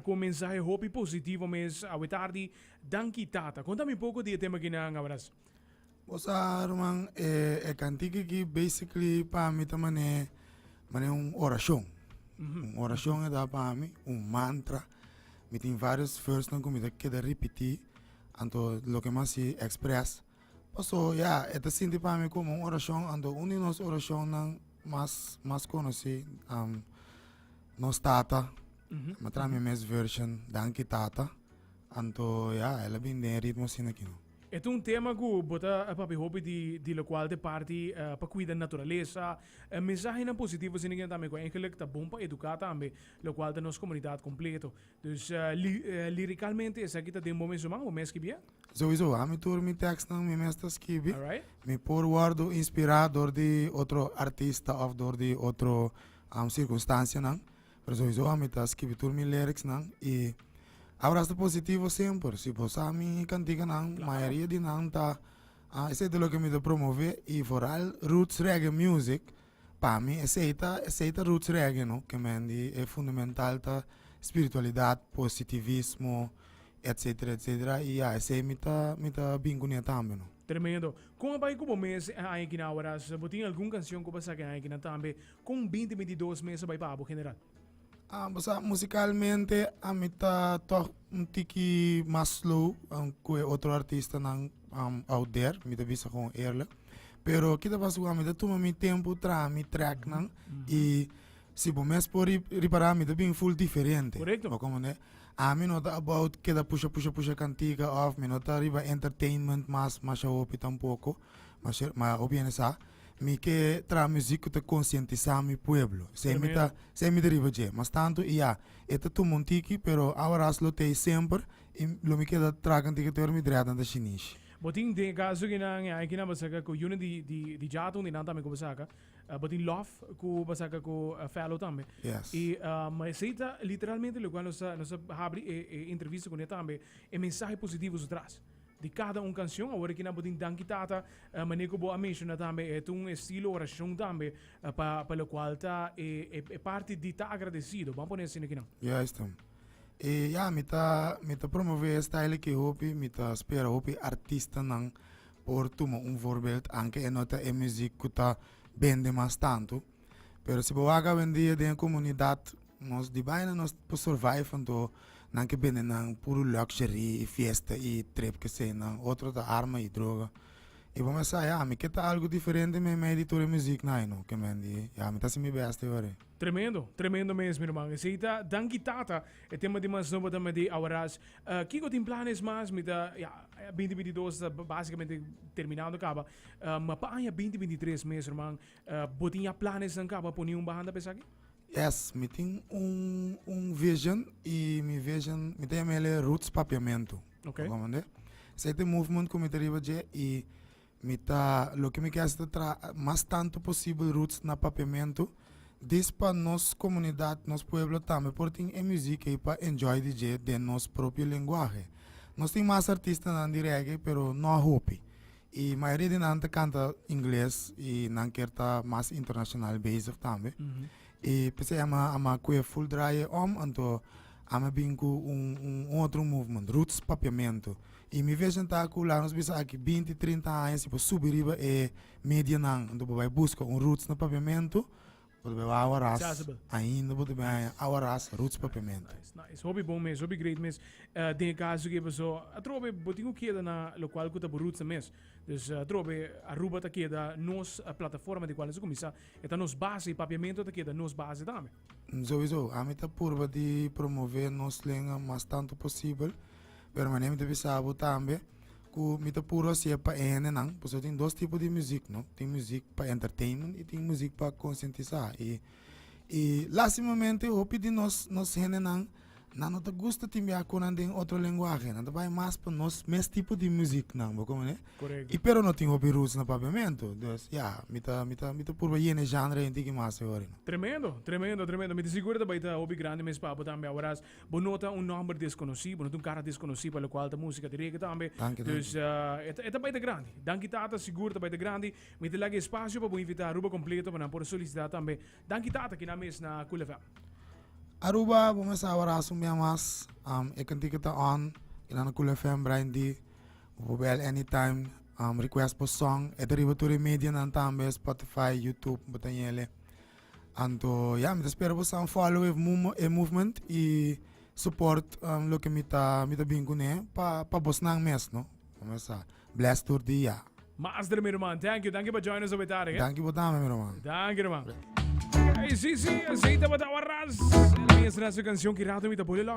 Ku un mensahe hopi positivo mes awe tardi. Danki Tata. Konta mi poko di e tema aki nan. Abras. Bosa ruman e kantiki aki basically pa mi ta man'e man'e un orashon un orashon e ta pa mi un mantra mi tin varios versnan ku mi ta keda ripiti anto loke mi a hasi express paso ya e ta sinti pa mi komo un orashon anto un di nos orashonnan mas mas konosi. Nos tata, ma traha mi mes version, Danki Tata. Anto ya, el a bin den e ritmo asina aki no. E ta un tema ku bo ta papia hopi di di lokual ta e parti pa kuida naturalesa, e mensahenan positivo asina aki tambe ku eigenlik ta bon pa eduká tambe, lokual ta nos komunidat kompleto. Dus lirikalmente esaki ta den bo mes human, bo mes kibié? Souiso ami tur mi tekstnan mi mes ta skibi mi por wordo inspira dor di otro artista of dor di otro circunstancianan pero souiso ami ta skibi tur mi liricsnan y abra asta positivo semper si bo sa mi canticanan mayoria di nan ta esey ta loke mi ta promove y foral roots reggae music Pa mi esei ta esei ta roots reggae no ke men di e fundamental ta spiritualidad positivismo etcetera etcetera y ya esei mi ta mi ta bin cu ne tambe no. Tremendo. Con a bay cu bo mes e aña kina awaras? Bo tin algun cancion cu bo a sa ki aña kina tambe? Con binti binti dos mes a bay pa abo general? Bo sa musicalmente ami ta tok un tiki mas slow ku e otro artistanan out there mi ta bisa kon eerlijk pero kita pasa ku ami ta tuma mi tempu traha mi tracknan i si bo mes por ripara mi ta bin full diferente bo comprende ami no ta about keda pusha pusha pusha kantika of mi no ta riba entertainment mas masha hopi tampoko. Ma sheriff ma hopi hende sa mi ke traha muzik ku ta konsientisá mi pueblo esei mi ta esei mi ta riba dje mas tantu i ya e ta tuma un tiki pero awaras lo tei semper i lo mi keda traha kantiki te ora mi dreha tanta shinishi. Bo tin den e kaso aki nan e aña aki nan bo saka ku Unity di di Jato undie nan tambe ku bo saka bo tin Lof ku bo saka ku Fellow tambe Yes. i ma esei ta literalmente lokual nos ta nos ta habri e e entrevista kuné tambe e mensahe positivo su tras. di kada un kansyon. Awor aki nan bo tin Danki Tata, mane ku bo a menshoná tambe e ta un estilo orashon tambe pa pa lokual ta e e parti di ta agradesido. Bo a pone asina kinan. Ya esta. E ya mi ta mi ta promove e style aki hopi, mi ta spera hopi artistanan por tuma un vorbeld anke e no ta e muzik ku ta bende mas tantu. Pero si bo wak awendia den e komunidat nos di baina nos ta por survive anto nan ke bende nan puru luxury i fiesta i trip keseinan otro ta arma i droga i bo mester a ya mi ke ta algu diferente meimei di tur e muzik nan ayno ke men di ya mi ta hasi mi bèst e wari. Tremendo, tremendo mes mi ruman. Esei ta Danki Tata, e tema di mas nobo ta Made Our Ras. Kiko tin planes mas? Mi ta, ya, binti binti dos ta basikamente terminando kaba, ma pa aña binti binti tres mes ruman Bo tin ya plan esnan kaba poni un banda pa esaki? Yes, mi tin un un vision y mi vision mi ta yama el e Roots Papiamento. Ok. Bo comprende? Esei ta e movement ku mi ta riba dje y mi ta loke mi ke hasi ta tra mas tantu posibel roots na papiamento this pa nos komunidat, nos pueblo tambe por tin e muzik ei pa enjoy di dje den nos propio lenguahe. Nos tin mas artistanan di reggae pero no a hopi E mayoria di nan ta kanta ingles i nan ker ta mas internashonal bezig tambe. I p'esei a mi a mi a kue full draye om, anto ami a bin ku un un un otro movement, Roots Papiamentu. I mi vision ta ku laga nos bisa aki binti, trinta aña si por subi riba e medianan, anto por bai buska un Roots na Papiamentu Bo ta bebe awa ras. Chasbe. Ainda bo ta bebe Nice. awa ras roots papiamento. Nice, nice. Hopi bon mes, hopi great mes. Eh, den e kaso ke pasó, atrobe bo tin ku keda na lokual ku ta bo rootsnan mes. Dus, atrobe Aruba ta keda nos plataforma di kual nos a kuminsá. E ta nos base, e papiamento ta keda nos base tambe. Sowisó. Ami ta purba di promové nos lenga mas tantu posibel, pero mane mi ta bisa bo tambe, Ku mi ta puru hasié pa e hendenan, pasobra tin dos tipo di muzik, no? Tin muzik pa entertainment i tin muzik pa konsientisá. I, i lastimamente hopi di nos, nos hendenan nan no ta gusta tin biaha ku nan den otro lenguahe. Nan ta bai mas pa nos mes tipo di muziknan, bo kompren'é? I pero no tin hopi roots na Papiamentu. Dus, ya, mi ta, mi ta, mi ta puru hasié n'e zhangre en tiki mas e hori, no? Tremendo, tremendo, tremendo. Mi ta sigur ta bai ta hopi grandi mes pa abo tambe. Aworas, Bo no ta un nomber desconoci, bo no ta un cara desconoci pa locual ta musica di reggae tambe. Danki, danki. Dus eh, e ta- e ta baita grandi. Danki tata, sigur ta baita grandi. Mi ta laga espacio pa bo invita Aruba completo pa nan por solicita tambe. Danki tata, kinan mes na Cool FM. Aruba, bo mes a abrazo mia mas. Um, e cantica ta on, kinan na Cool FM, Brian D. Bo por bel anytime, um, request bo song. E ta riba tur e medianan tambe, Spotify, YouTube, bo ta nyele. Anto ya mi ta spera bo staan follow e movement y support loke mi ta mi ta bin cune pa bosnan mes no mesa bless tur dia. Mas dere mi ruman thank you danki pa join nos hopi tarde. Danki bo tambe mi ruman. Danki ruman. Ey si si asey tabata waras el mesra su cancion ki rato mi ta bole los.